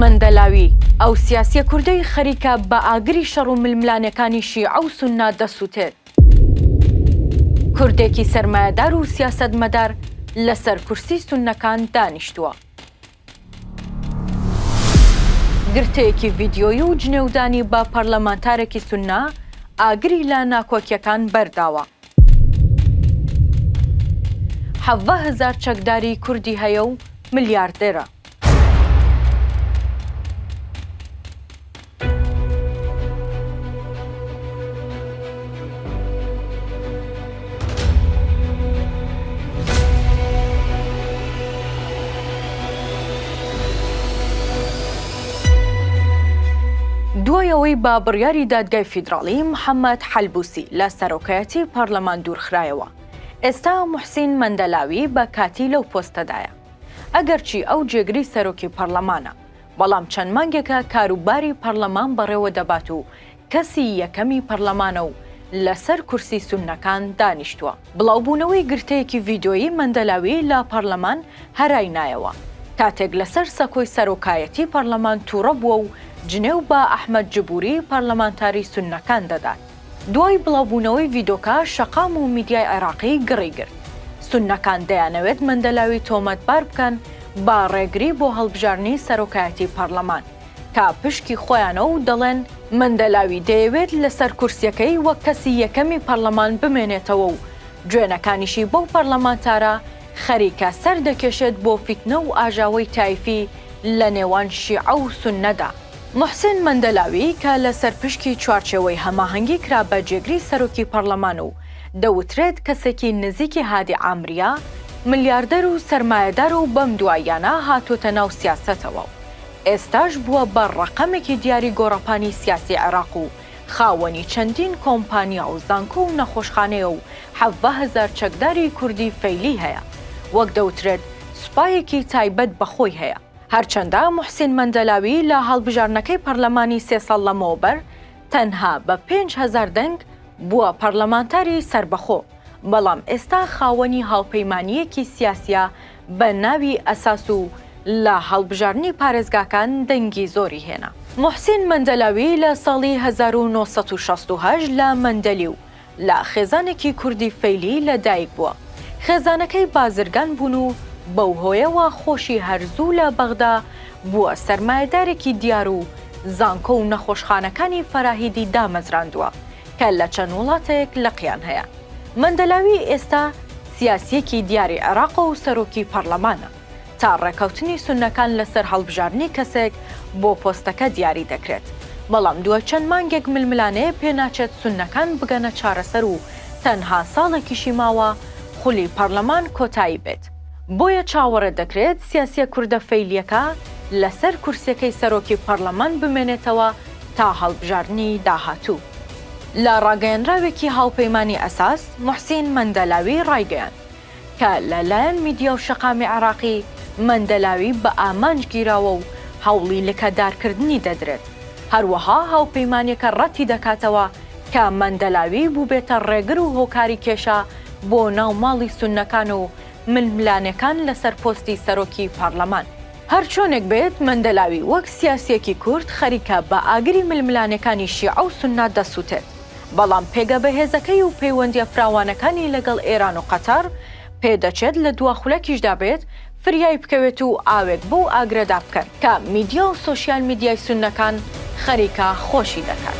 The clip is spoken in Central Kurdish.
مەندەلاوی، ئەو سیاسیە کوردەی خەریکە بە ئاگری شەڕ و ململانێکانی شیعە و سوننە دەسوتێت. کوردێکی سەرمایەدار و سیاسەتمەدار لەسەر کورسی سوننەکان دانیشتووە. گرتەیەکی ڤیدیۆیی و جنێودانی بە پەرلەمانتارێکی سوننە ئاگری لە ناکۆکیەکان بەرداوە. حەڤە هەزار چەکداری کوردی هەیە و ملیاردێرە. دوای ئەوەی بە بڕیاری دادگای فیدراڵی محەممەد حەلبوسی لە سەرۆکایەتی پەرلەمان دوورخرایەوە، ئێستا موحسین مەندەلاوی بە کاتی لەو پۆستەدایە. ئەگەرچی ئەو جێگری سەرۆکی پەرلەمانە، بەڵام چەند مانگێکە کاروباری پەرلەمان بەڕێوەدەبات و کەسی یەکەمی پەرلەمانە و لەسەر کورسی سوننەکان دانیشتووە. بڵاوبوونەوەی گرتەیەکی ڤیدیۆیی مەندەلاوی لە پەرلەمان هەرای نایەوە، کاتێک لەسەر سەکۆی سەرۆکایەتی پەرلەمان تووڕە بووە و جنێو بە ئەحمەد جبووری پەرلەمانتاری سوننەکان دەدات. دوای بڵاوبوونەوەی ڤیدۆکە شەقام و میدیای عێراقی گڕی گرت. سوننەکان دەیانەوێت مەندەلاوی تۆمەتبار بکەن بە ڕێگری بۆ هەڵبژاردنی سەرۆکایەتی پەرلەمان. تا پشکی خۆیانە و دەڵێن مەندەلاوی دەیەوێت لەسەر کورسیەکەی وەک کەسی یەکەمی پەرلەمان بمێنێتەوە و جوێنەکانیشی بەو پەرلەمانتارە خەریکە سەر دەکێشێت بۆ فیتنە و ئاژاوەی تایفی لە نێوان شیعە و سوننەدا. موحسین مەندەلاوی کە لەسەر پشکی چوارچێوەی هەماهەنگی کرا بە جێگری سەرۆکی پەرلەمان و دەوترێت کەسێکی نزیکی هادی عامریە، ملیاردەر و سەرمایەدار و بەم دواییانە هاتووەتە ناو سیاسەتەوە و ئێستاش بووە بە ڕەقەمێکی دیاری گۆڕەپانی سیاسی عێراق و خاوەنی چەندین کۆمپانیا و زانکۆ و نەخۆشخانەیە و حەڤە هەزار چەکداری کوردی فەیلی هەیە وەک دەوترێت سوپایەکی تایبەت بە خۆی هەیە. هەرچەندە موحسین مەندەلاوی لە هەڵبژاردنەکەی پەرلەمانی سێ ساڵ لەمەوبەر تەنها بە پێنج هەزار دەنگ بووە پەرلەمانتاری سەربەخۆ، بەڵام ئێستا خاوەنی هاوپەیمانییەکی سیاسییە بە ناوی ئەساس و لە هەڵبژاردنی پارێزگاکان دەنگی زۆری هێنا. موحسین مەندەلاوی لە ساڵی هەزار و نۆ سەد و شەست و هەشت لە مەندەلیو لە خێزانێکی کوردی فەیلی لە دایک بووە. خێزانەکەی بازرگان بوون و بەو هۆیەوە خۆشی هەر زوو لە بەغدا بووە سەرمایەدارێکی دیار و زانکۆ و نەخۆشخانەکانی فەراهیدی دامەزراندووە کە لە چەند وڵاتێک لقیان هەیە. مەندەلاوی ئێستا. سیاسیەکی دیاری عێراقە و سەرۆکی پەڕلەمانە، تا ڕێکەوتنی سوننەکان لەسەر هەڵبژاردنی کەسێک بۆ پۆستەکە دیاری دەکرێت، بەڵام دوای چەند مانگێک ململانێ پێناچێت سوننەکان بگەنە چارەسەر و تەنها ساڵێکیشی ماوە خولی پەڕلەمان کۆتایی بێت، بۆیە چاوەڕێ دەکرێت سیاسیە کوردە فەیلیەکە لەسەر کورسیەکەی سەرۆکی پەڕلەمان بمێنێتەوە تا هەڵبژاردنی داهاتوو. لە ڕاگەیەنراوێکی هاوپەیمانی ئەساس، موحسین مەندەلاوی ڕایگەیاند کە لە لایەن میدیا و شەقامی عێراقی مەندەلاوی بە ئامانج گیراوە و هەوڵی لکەدارکردنی دەدرێت، هەروەها هاوپەیمانیەکە ڕەتی دەکاتەوە کە مەندەلاوی بووبێتە ڕێگر و هۆکاری کێشە بۆ ناو ماڵی سوننەکان و ململانێکان لەسەر پۆستی سەرۆکی پارلەمان. هەرچۆنێک بێت مەندەلاوی وەک سیاسیەکی کورد خەریکە بە ئاگری ململانێکانی شیعە و سوننە دەسووتێت، بەڵام پێگە بەهێزەکەی و پەیوەندییە فراوانەکانی لەگەڵ ئێران و قەتەڕ، پێ دەچێت لە دوا خولەکیشدا بێت، فریای بکەوێت و ئاوێک بەو ئاگرەدا بکەن، کە میدیا و سۆشیال میدیای سوننەکان خەریکە خۆشی دەکات.